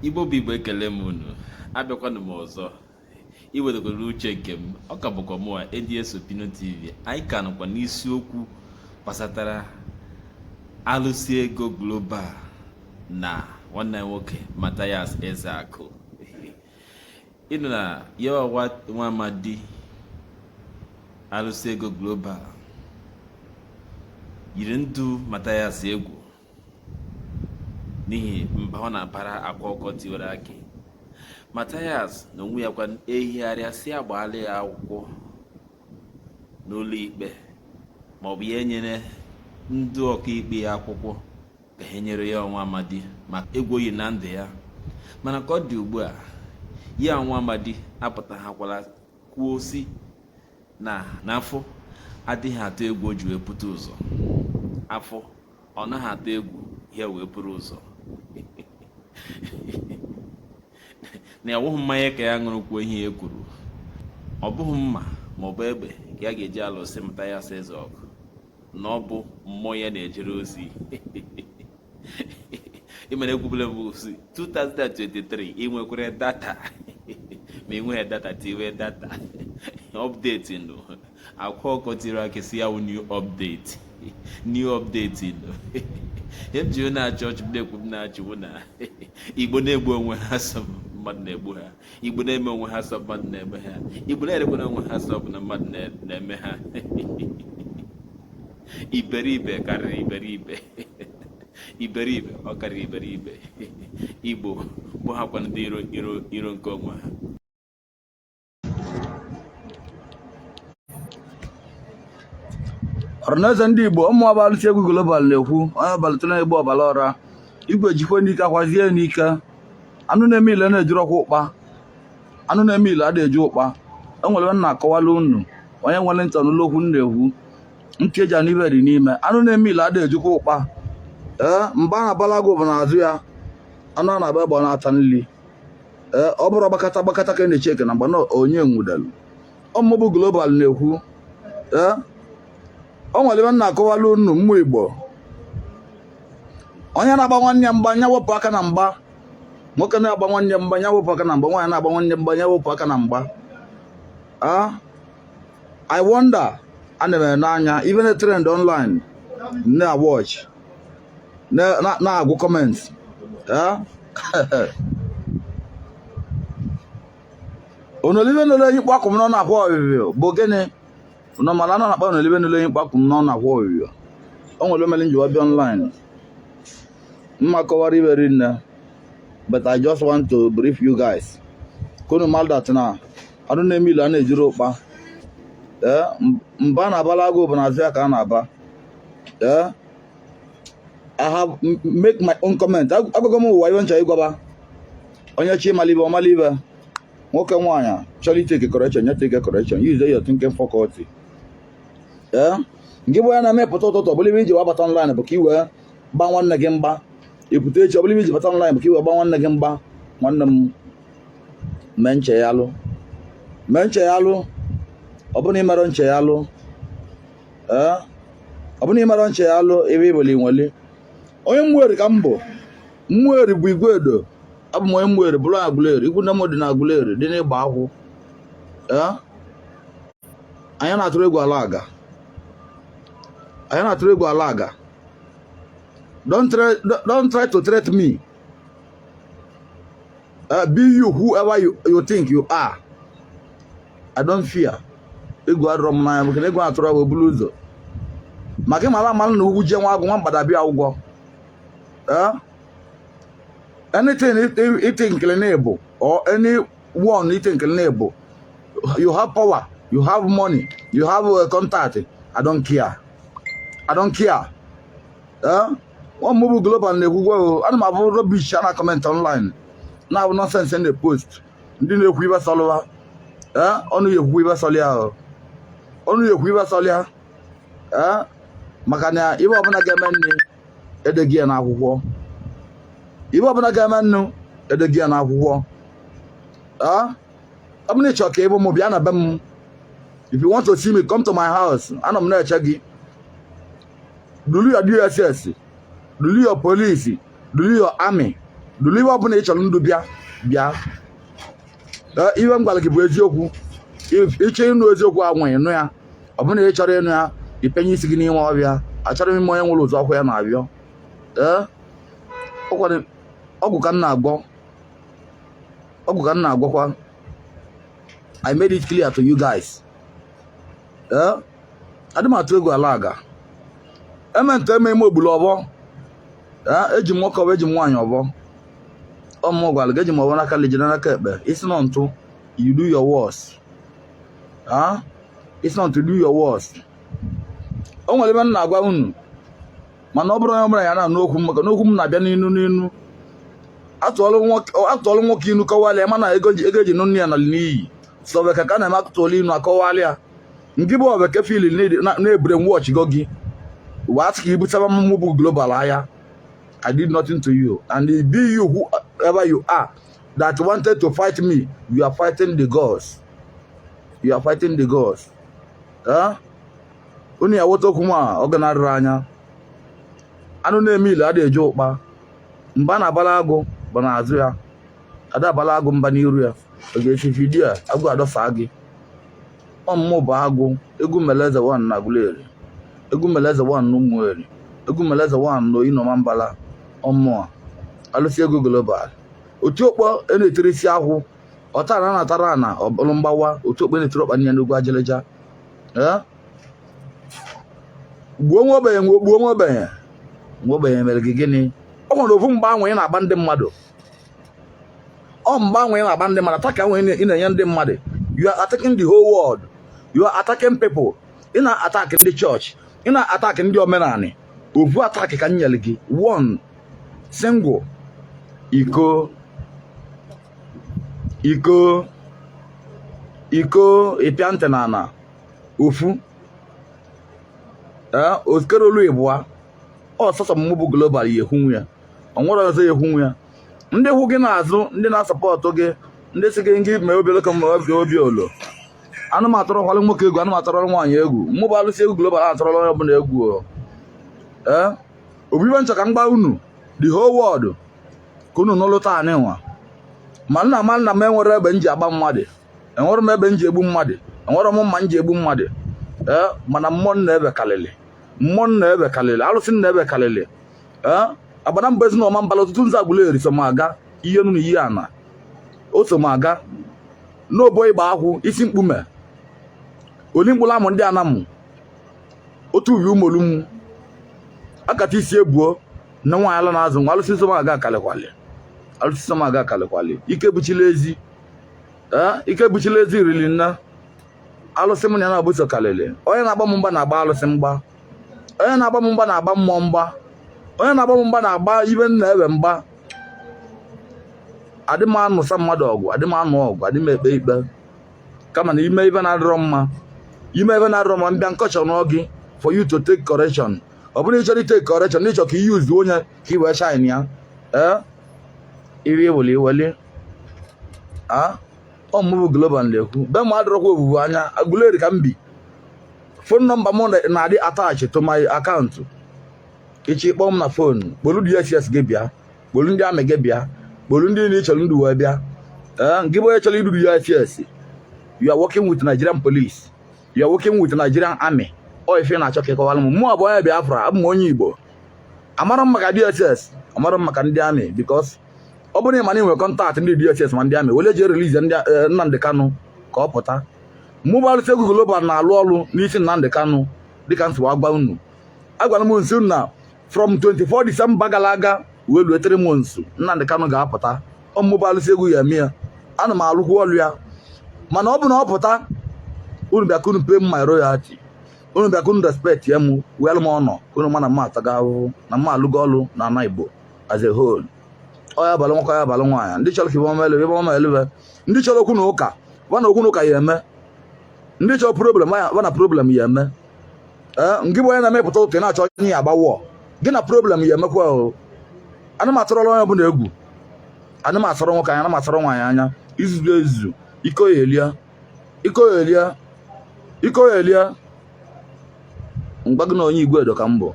igbo bụ igbo ekele m unu abịakwanụ m ọzọ iwedogoro uche nke m ọ ka bụkwa mụwa ADS Opinion TV anyị ka nọkwa n'isiokwu gbasatara alụsị ego global na nwanne nwoke Mathias Ezeaku ịnụ na ya wụ nwa amadi alụsị ego global yiri ndụ Mathias egwu n'ihi mba ọ na-abara akwa ọkụkọ tiwere akị Mathias na onwe ya kwa ehigharịa sị agbaala ya akwụkwọ n'ụlọ ikpe ma ọ bụ ya enyere ndị ọkaikpe ya akwụkwọ ka ha nyere ya wụ nwa amadi maka egwu o yi na ndụ ya mana ka ọ dị ugbu a ya wụ nwa amadi apụtaghakwala kwuo sị na na afọ adịghị atụ egwu o ji wee pụta ụzọ afọ ọ naghị atụ egwu ya wee buru ụzọ na ọ wụghị mmanya ka ya ṅụrụ kwuo ihe ya kwuru ọ bụghị mma ma ọ bụ egbe ka ya ga-eji alụsị Mathias Eze ọgụ na ọ bụ mmụọ ya na-ejere ozi ị mara ekwubule m si 2023 i nwekwere data ma i nweghị data tiwe data update ndụ akwa ọkụkọ tiwere akị sị ya wụ new update new update ilo ihe m ji wee na-achị ọchị m na-ekwu m na-achị wụ na igbo na-egbu onwe ha sị ọ mmadụ na-egbu ha igbo na-eme onwe ha sị ọ mmadụ na-eme ha igbo na-erekwana onwe ha sị ọ bụ na mmadụ na-eme ha iberibe karịrị iberibe iberibe ọ karịrị iberibe igbo bụ hakwa ndị iro nke onwe ha ọranaeze ndị igbo ọ mụ bụ alụsị ego global na-ekwu onye abalịtụ na-egbu ọbara ọra igwe jikwe n'ike akwazie n'ike anụ na-eme ile na-ejurọkwa ụkpa anụ na-eme ile adịghị eju ụkpa o nwere ihe m na-akọwala unu onye nwere ntị ọ nụlụ okwu m na-ekwu ntị e ji anụ ife dị n'ime anụ na-eme ile adịghị ejukwa ụkpa ee mba a na-abala agụ bụ n'azụ ya anụ a na-agba egbe ọ na-ata nri ee ọ bụrụ gbakata gbakata ka na-eche ike na mgba na onye nwudelu ọ mụ bụ global na-ekwu ee o nwere ife m na-akọwala unu ụmụ igbo onye na-agba nwanne ya mgba nya wepụ aka na mgba nwoke na-agba nwanne mgba nya wepụ aka na mgba nwaanyị na-agba nwanne mgba nya wepụ aka na mgba ah i wonder ana m ele anya ife na-trend online na-watch na-agụ comment onolibe nole enyi kpakụ m n'ọnụ akwa ọbịbịa bụ gịnị unu mala na a na-akpa onolibe nole enyi kpakụ m n'ọnụ akwa ọbịbịa o nwere o mere m ji wee bịa online m ma-akọwara ibe rinne but I just want to brief you guys ka unu malụ that na anụ na-eme ile a na-ejiri ụkpa ee mba a na-abala agụ bụ n'azụ ya ka a na-aba ee I have make my own comment agwago m ụwa ibe m chọ ịgwa ba onye chọ ịmalụ ibe ọ malụ ibe nwoke nwaanyị chọrọ ịtake correction nya take correction use your thinking faculty ee eh? nke bụ ya na-emepụta ụtụtụ ọbụla ibe i ji wee bata online bụ ka i wee gba nwanne gị mgba ị pụta echi ọbụla ibe i ji bata online bụ ka i wee gba nwanne gị mgba nwanne m mee ncheghalụ mee ncheghalụ ọ bụrụ na i merọ ncheghalụ ee ọ bụrụ na i merọ ncheghalụ ibe ị bụlụ i nweli onye Umueri ka m bụ Umueri bụ Iguedo abụ m onye Umueri bụrụ onye Aguleri ikwu nne m dị na Aguleri dị n'Igbakwu ee anyị na-atụrụ egwu ala aga anyị na-atụrụ egwu ala aga don't try, don't try to threat me Uh, be you whoever you, you think you are. I don't fear. Egwu adọrọ m n'anya maka na egwu atụrụ wee buru ụzọ. Maka ị mara amalụ na ụkwụ jie nwa agụ nwa mgbada abịa ụgwọ. Eh? Anything ị thinkịlị na ị bụ or anyone ị thinkịlị na ị bụ you have power, you have money, you have uh, contact. I don't care. I don't care. nwa mụ bụ Global na-ekwukwa ana m abụ rubbish a na comment online na-abụ nonsense na post ndị na-ekwu ibe sọlụ wa onye ekwukwa ibe sọlị ya onye ekwu ibe sọlị ya maka na ibe ọbụla ga-emenụ e dego ya n'akwụkwọ ibe ọbụla ga-emenụ e dego ya n'akwụkwọ ọ bụrụ na ị chọrọ ka ị bụ m bịa na be m if you want to see me come to my house anọ m na-eche gị duru your DSS duru your police duru your army duru ihe ọbụla ị chọrọ idu bịa bịa ihe m gwara gị bụ eziokwu ị chọọ ịnụ eziokwu ahụ ị nụ ya ọ bụrụ na ị chọrọ ịnụ ya i penye isi gị n'ime ọfịa achọrọ m ịma onye nwere ụzọ ọkụ ya na-abịọ ee ọgwụ ka m na-agwọ ọgwụ ka m na-agwọkwa I made it clear to you guys. Yeah? adị m atụ egwu ala aga eme nte eme ime ogbulu ọbọ eji m nwoke ọbọ eji m nwaanyị ọbọ ọ mụ gwara gị eji m ọvọ n'aka nli jide n'aka ekpe ị sị na ọ ntụ you do your worst ị sị na ọ ntụ do your worst o nwere ive m na-agwa unu mana ọ bụrụ onye ọbụla ya na-anụ okwu m maka na okwu m na-abịa n'inu n'inu a tụọlụ nwoke inu kọwalịa ma na ego e ji nụ nne ya nalụ n'iyi sọbe ka ka na-eme atụtụọlụ inu akọwalịa nke bụ obeke fil na-ebure wọch go gị wee asị ka i butaba mmụ mụ bụ global ahịa I did nothing to you and it be you whoever you are that wanted to fight me you are fighting the gods you are fighting the gods unu ya wọta okwu nwa ọ ga na-arịrị anya anụ na-eme ile adịghị eji ụkpa mba a na-abala agụ bụ n'azụ ya ada abala agụ mba n'iru ya ọ ga-esi vidiyo agụ adọsa gị ọ mụ mụ bụ agụ egwu meleze one na Aguleri egwu meleze one na Ụmụeri egwu meleze one na Oyi na Ọmambala ọ mụa Alụsị Ego Global otu okpo e na-etiri isi akwụ ọtara na atara na ọ bụrụ mgbawa otu okpo e na-etiri ọkpa niile n'ugwu ajịlịja Ee? gbuo nwa ogbenye gbuo nwa ogbenye nwa ogbenye mere gị gịnị ọ nwere ofu mgba nwa ị na-agba ndị mmadụ ọ mgba nwa ị na-agba ndị mmadụ attack nwa ị na-enye ndị mmadụ you are attacking the whole world you are attacking people ị na-attack ndị chọọchị ị na-attack ndị omenanị ovu attack ka m nyere gị one single iko iko iko ị pịa ntị n'ana ofu ee eh, okerolu ịbụa ọ sọsọ mmụ bụ Global ya ekwunwu ya o nwerọ ọzọ ya ekwunwu ya ndị kwụ gị n'azụ ndị na-support gị ndị si gị ngị mee obi oloko ma obi obi olo na mụ atụrọkwalụ nwoke egwu na mụ atụrọlụ nwaanyị egwu mụ bụ Alụsị Ego Global atụrọlụ onye ọbụla egwu ee ọ bụ ive m chọ ka m gwa unu the whole world ka unu nụlụ taa anyị nwa ma na ma na mụ enwerọ egbe m ji agba mmadụ enwerọ m egbe m ji egbu mmadụ enwerọ m mma m ji egbu mmadụ ee mana mmụọ m na-eve kalịlị mmụọ m na-eve kalịlị alụsị m na-eve kalịlị Agbanabọ Ezu na Ọmambala Otutunzu Aguleri so m aga iyi enu na iyi ana o so m aga n'obo ịgba akwụ isi mkpume oli mkpụrụ amụ ndị Anam otu ubi Ụmụolum akata isi ebuo na nwaanyị ala na-azụ nwa alụsị so m aga kalịkwalị alụsị so m aga kalịkwalị ike buchila ezi ee ike buchila ezi riri na alụsị m na ya na-abụso kalịlị onye na-agba m mgba na-agba alụsị mgba onye na-agba m mgba na-agba mmụọ mgba onye na-agba m mgba na-agba ibe nna ewe mgba adị m anụsa mmadụ ọgụ adị m anụ ọgụ adị m ekpe ikpe kama na ime ibe na-adịrọ mma ime ibe na-adịrọ mma mbịa nkọchọ n'oge for you to take correction ọ bụrụ ịchọrọ ịtake correction na ịchọ ka i use onye ka i wee shine ya ee iri eweli eweli a ọ mụ bụ global na-ekwu be m adịrọkwa obubu anya Aguleri ka m bi phone number m na-adị attach to my account ị chọ ịkpọ m na phone kpolu dss gị bịa kpolu ndị army gị bịa kpolu ndị niile chọrọ ndụ wee bịa eh, gị bụ onye chọrọ idu dss you are working with Nigerian police you are working with Nigerian army ọ ife na-achọ ka ịkọwara m mụ abụ onye Biafra abụ m onye Igbo amara m maka dss amara m maka ndị army because ọ bụrụ na ị ma na ị nwere contact ndị dss ma ndị army wele jee release eh, Nnamdi Kanu ka ọ pụta Mụ bụ Alụsị Egwu Global na-alụ ọrụ n'isi Nnamdi Kanu dịka m si wee gwa unu agwara m unu sị na from 24 December gara aga wee lue 3 months Nnamdi Kanu ga-apụta ọ mụ bụ Alụsị Egwu ya eme ya ana m alụkwu ọrụ ya mana ọ bụ na ọ pụta unu bịa ka unu pay my royalty unu bịa ka unu respect ya mụ were m honour unu ma na mụ atago ahụhụ na mụ alụgo ọrụ na ana Igbo as a whole ọ ya abalụ nwoke ọ ya abalụ nwaanyị ndị chọrọ ka ibe ọma elebe ibe ọma elebe ndị chọrọ okwu na ụka wa na okwu na ụka ya eme ndị chọrọ problem wa na problem ya eme ee ngị bụ onye na-emepụta ụka ị na-achọ onye ya agbawo gị na problem ya emekwa o ana m atụrọla onye ọbụla egwu ana m asọrọ nwoke anya ana m asọrọ nwaanyị anya izuzu ezuzu iko ya elia iko ya elia iko ya elia mgba gị na onye Iguedo ka m bụ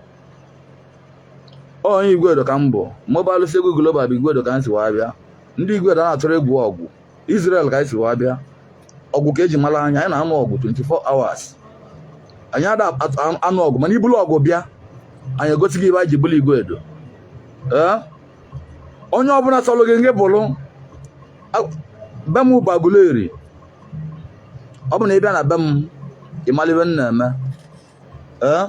onye Iguedo ka m bụ mụ bụ Alụsị Egwu Global bụ Iguedo ka m si wee bịa ndị Iguedo a na-atụrụ egwu ọgụ Israel ka anyị si wee bịa ọgụ ka eji mara anyị anyị na-anụ ọgụ 24 hours anyị ada anụ ọgụ mana ibulu ọgụ bịa anyị egosi gị ibe anyị ji bụrụ Iguedo ee onye ọbụla sọlụ gị ngị bụrụ be m bụ Aguleri ọ bụ na ị bịa na be m ị mara ibe m na-eme eh?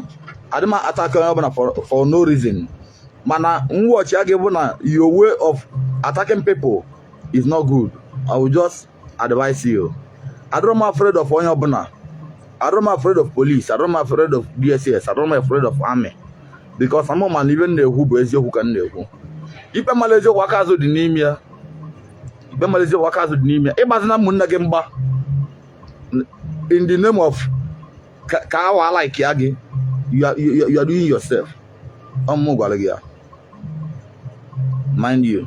adị m attack onye ọbụla for no reason mana mwọchi a ga-ebu na your way of attacking people is not good i will just advise you adịrọ m afraid of onye ọbụla adịrọ m afraid of police adịrọ m afraid of dss adịrọ m afraid of army because ama m na ibe m na-ekwu bụ eziokwu ka m na-ekwu ikpe mara eziokwu aka azụ dị n'ime ya ikpe mara eziokwu aka azụ dị n'ime ya ịgbazina ụmụnne gị mgba in the name of ka wa like ya gị you are doing yourself ọ mụ gwara gị ya mind you